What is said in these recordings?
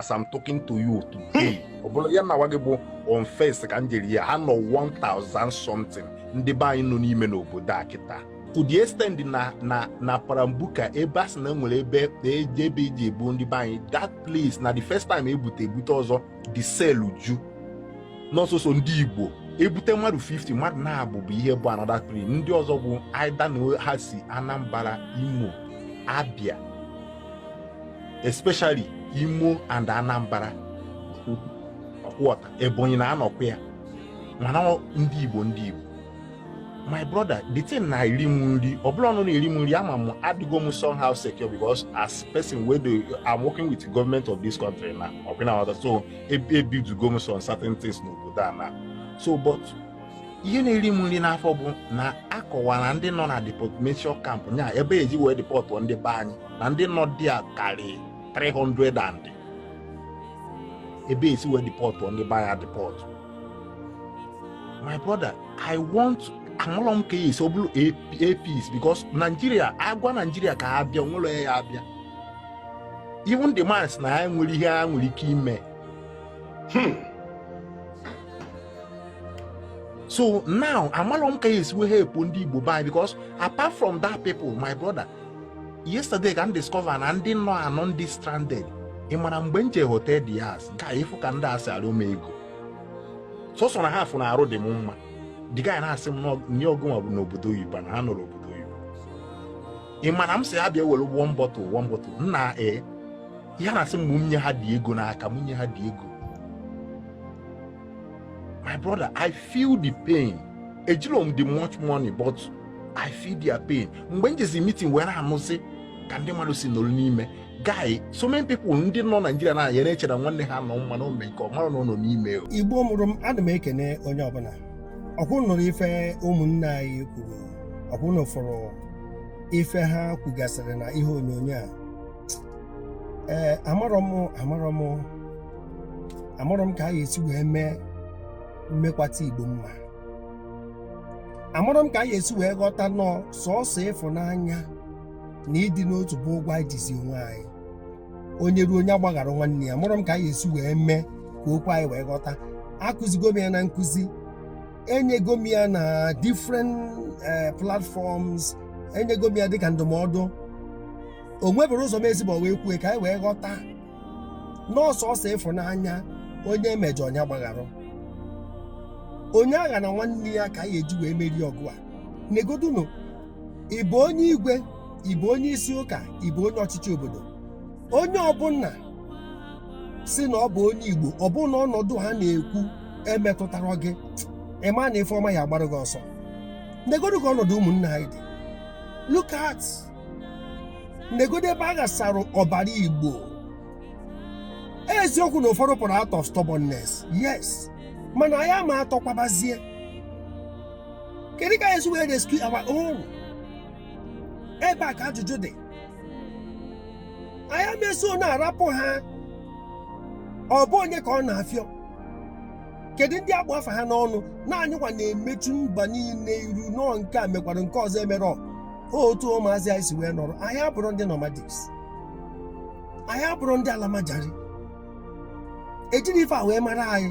as I'm talking to you today hmm. ọ bụrụ ya na gị bụ on first ka m jere ya ha nọ 1000 something ndị be anyị nọ n'ime n'obodo a kịta to the extent na na na parambuka ebe a sị na nwere ebe eji ebe eji ebu ndị be anyị that place na the first time ebute ebute ọzọ the cell ju nọ sọsọ ndị igbo ebute mmadụ 50 mmadụ naabọ bụ ihe bụ another tribe ndị ọzọ bụ either na ha si anambra imo abia especially Imo and Anambra ọkwọta Ebonyi na anọkwa ya mana ndị Igbo ndị Igbo my brother the thing na eri m nri ọ bụlọ na ọ na-eri m nri ama m adịgo m somehow secure because as person wey dey i'm working with the government of this country now so ebuildigo m some certain things n'obodo a now so but ihe na-eri m nri n'afọ bụ na akọwara ndị nọ na deportation camp nya ebe eji wee deport ndị be anyị na ndị nọ there karị 300 and ebe esi wee deport ndị be anyị deport my brother i want amalọ m ka ya esi ọ bụrụ apis because Nigeria agwa Nigeria ka ha bịa nwere ya abịa even the man sị na ya nwerọ ihe ha nwere ike ime Hmm. so now amalọ m ka a ya-esi wee help ndị igbo be anyị because apart from that people my brother yesterday ka m discover na ndị nọ anọ ndị stranded ị mara mgbe m je hotel dias ka ị fụ ka ndị a si arịọ m ego sọsọ na ha fụ na arụ dị m mma the guy na-asị m na ọ gịnwa bụ nọ obodo oyibo na ha anọrọ obodo oyibo ị mara m sị ha bịa were one bottle one bottle nna ee ha na-asị m mụ nye ha the ego n'aka mụ nye ha the ego my brother i feel the pain ejilọ m the much money but i feel their pain mgbe m jezi meeting were anụzi ka ndị mmadụ si nọrọ n'ime guy so many people ndị nọ Nigeria na ya na-eche na nwanne ha nọ mma n'ome nke ọ marọ na ọ nọ n'ime igbo mụrụ m ana m ekene onye ọbụla ọkwa unu nụrụ ife ụmụnne anyị kwuru ọkwa unu fụrụ ife ha kwugasịrị na ihe onyonyo a ee amarọ m amarọ m amarọ m ka a ga-esi wee mee mmekwata igbo mma amarọ m ka a ga-esi wee ghọta na ọ sọọsọ ịfụnanya na ịdị n'otu bụ ụgwọ anyị jizi onwe anyị onye ruo onye agbaghara nwanne ya amarọ m ka a ga-esi wee mee ka okwu anyị wee ghọta akụzigo m ya na nkụzi enyego m ya na different eh, platforms enyego m ya dịka ndụmọdụ o nweberọ ụzọ m esiberọ wee kwue ka anyị wee ghọta na ọ sọsọ ịfụnanya onye emejọ onye gbagharụ onye aghana nwanne ya ka anyị eji wee merie ọgụ a negodunu ị bụ onye igwe ị bụ onye isi ụka ị bụ onye ọchịchị obodo onye ọbụla sị na ọ bụ onye igbo ọ bụ na ọnọdụ ha na-ekwu emetụtarọ gị ị ma na ife ọma ya agbara gị ọsọ negodu ka ọnọdụ ụmụnna anyị dị look at negodu ebe a ghasara ọbara igbo eziokwu na ụfọdụ pụrụ out of stubbornness yes mana anyị ama atọ kwabazie kedu ka anyị esi wee rescue our own ebe a ka ajụjụ dị anyị ama eso na-arapụ ha ọ bụ onye ka ọ na-afịọ kedu ndị a kpụ afa ha n'ọnụ na anyịkwa na-emechu mba niile iru na ọ nke a mekwara nke ọzọ emerọ otu ụmụazị anyị si wee nọrọ anyị abụrọ ndị nomadics anyị abụrọ ndị almajiri ejirọ ife a wee mara anyị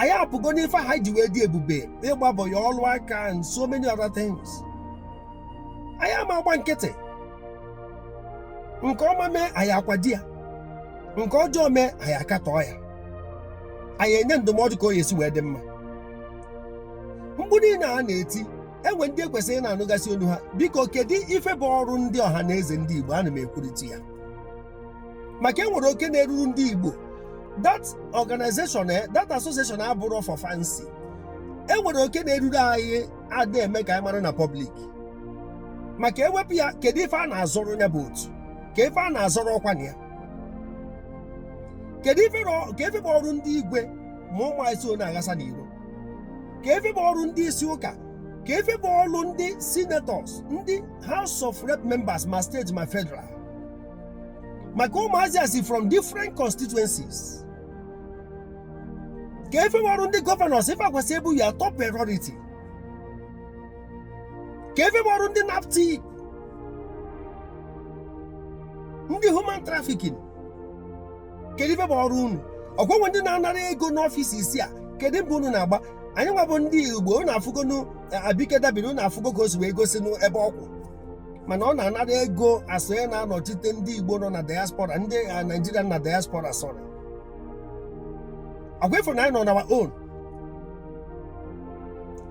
anyị apụgo n'ife a anyị ji wee dị ebube ịgba boy ya ọlụ aka and so many other things anyị ama agba nkịtị nke ọma mee anyị akwado ya nke ọjọọ mee anyị akatọọ ya anyị enye ndụmọdụ ka o ya esi wee dị mma mkpu niile a na-eti e nwe ndị e kwesịrị ịna-anụgasị olu ha biko kedu ife bụ ọrụ ndị ọhanaeze ndị igbo ana m ekwurịta ya maka e nwere oke na-eruru ndị igbo that organization eh, that association abụrọ for fancy e nwere oke na-eruru anyị ada eme ka anyị mara na public maka e wepụ ya kedu ife a na-azọrọ ya bụ otu ka ife a na-azọrọ ọkwa na ya kedu ife rọ- ka ife bụ ọrụ ndị igwe ma ụmụ anyị so na-aghasa n'iro ka ife bụ ọrụ ndị isi ụka ka ife bụ ọrụ ndị senators ndị house of rep members ma state ma federal maka ụmụazị a si from different constituencies ka ife bụ ọrụ ndị governors ife a kwesị ịbụ your top priority ka ife bụ ọrụ ndị naptip ndị human trafficking kedu ife bụ ọrụ unu ọkwa e nwe ndị na-anara ego na offices a kedu mbọ unu na-agba anyị nwa bụ ndị igbo unu afụgonu abike dabiri unu afụgo ka o si wee gosi n'ebe ọ kwụ mana ọ na-anara ego as onye na-anọchite ndị igbo nọ na diaspora ndị a, naijiria na diaspora sorry ọkwa ị fụ na anyị nọ on our own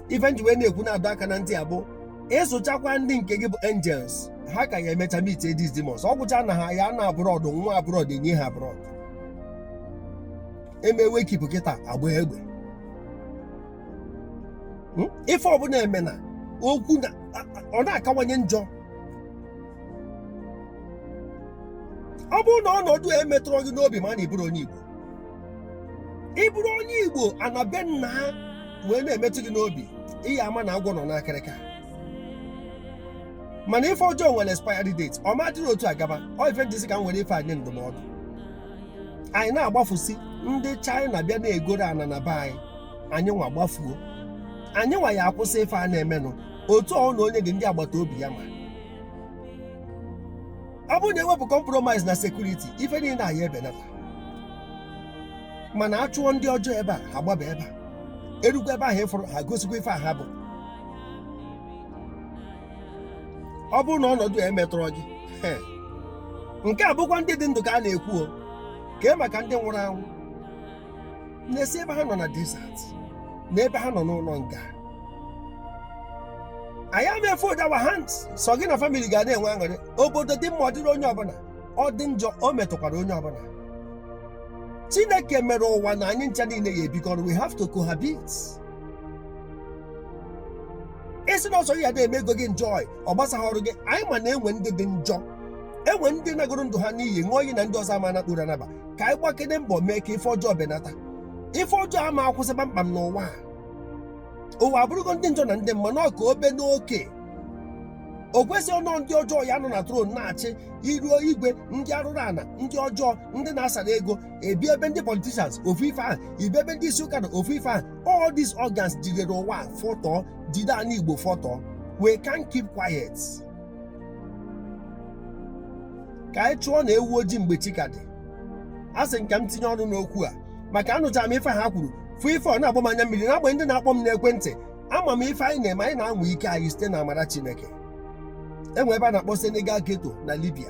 ife m ji wee na-ekwu na-adọ aka na ntị abụ ị zụchakwa ndị nke gị bụ angels ha ka ya emecha meet these demons ọ gwụcha na ha ya na abroad nwa abroad enye ha abroad eme wake keep kịta agba egbe Hmm? ife ọbụla eme na okwu na a- a- ọ na-akawanye njọ ọ bụrụ na ọnọdụ a emetụrọ gị n'obi ma na ị bụrọ onye igbo ị bụrụ onye igbo ana be nna ha wee na-emetụ gị n'obi ị ya ama na agwọ nọ n'akịrịka mana ife ọjọọ nwere expiry date ọ ma dịrị otu a gaba ọ ife m ji sị ka m were ife anyị ndụmọdụ anyị na-agbafusi ndị China bịa na-egoro ana na be anyị anyị nwa gbafuo anyị nwa ya akwụsị ife a na-emenụ otu ọ na onye ohi ndị agbata obi ya ma ọ bụrụ na ewepụ compromise na security ife niile a ya ebenata mana a chụọ ndị ọjọọ ebe a ha gbaba ebe a erukwa ebe ahụ ịfụrụ ha gosikwa ife a ha bụ ọ bụrụ na ọnọdụ a emetụrọ gị he, nke a bụkwa ndị dị ndụ ka a na-ekwu o kee maka ndị nwụrụ anwụ na-esi ebe ha nọ na desert na ebe ha nọ n'ụlọ nga anyị ama fold our hands sọ gị na family ga na-enwe aṅụrị obodo dị mma ọ dịrị onye ọbụla ọ dị njọ o metụkwara onye ọbụla chineke mere ụwa na anyị ncha niile ya ebikọ ọnụ we have to cohabit ị sị na ọ sọ gị ya dị eme ego gị enjoy ọ gbasahọrọ gị anyị ma na enwe ndị dị njọ enwe ndị nagoro ndụ ha n'iyi ṅụọ iyi na ndị ọzọ ama na-akpụrụ anaba ka anyị gbakene mbọ mee ka ife ọjọọ benata ife ọjọọ ama akwụsị kpamkpam n'ụwa a. ụwa abụrụgo ndị njọ na ndị mma na ọ ka o be n'oke o kwesịrọ na ndị ọjọọ ya anọ na throne na-achị i ruo igwe ndị arụrụ ana ndị ọjọọ ndị na-asara ego ị bịa ebe ndị politicians ofu ife ahụ ị bịa ebe ndị isi ụka nọ ofu ife ahụ all these organs jidere ụwa a fọtọ jide ana igbo fọtọ we can't keep quiet ka anyị chụọ na ewu ojii mgbe chi ka dị a sị m ka m tinye ọnụ n'okwu a maka anụchara m ife ha kwuru fụ ife ọ na-agba m anya mmiri na-agba ndị na-akpọ m n'ekwentị ama m ife anyị na-eme anyị na-anwa ike anyị site na amara chineke enwe ebe a na-akpọ senegal ghetto na libya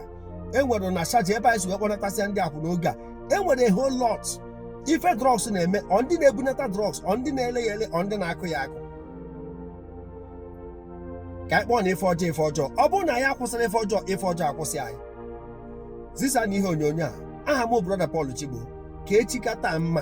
enwere na sharjah ebe anyị si wee kpọnatasịa ndị akwụna oge a enwere a whole lot ife drugs na-eme ọ ndị na-ebunata drugs ọ ndị na-ele ya ele ọ ndị na-akụ ya akụ ka anyị kpọọnụ ife ọjọọ ife ọjọọ ọ bụrụ na anyị akwụsịrọ ife ọjọọ ife ọjọọ akwụsị anyị zisa na ihe onyonyo a aha m brother Paul Chigbo ka echi ka taa mma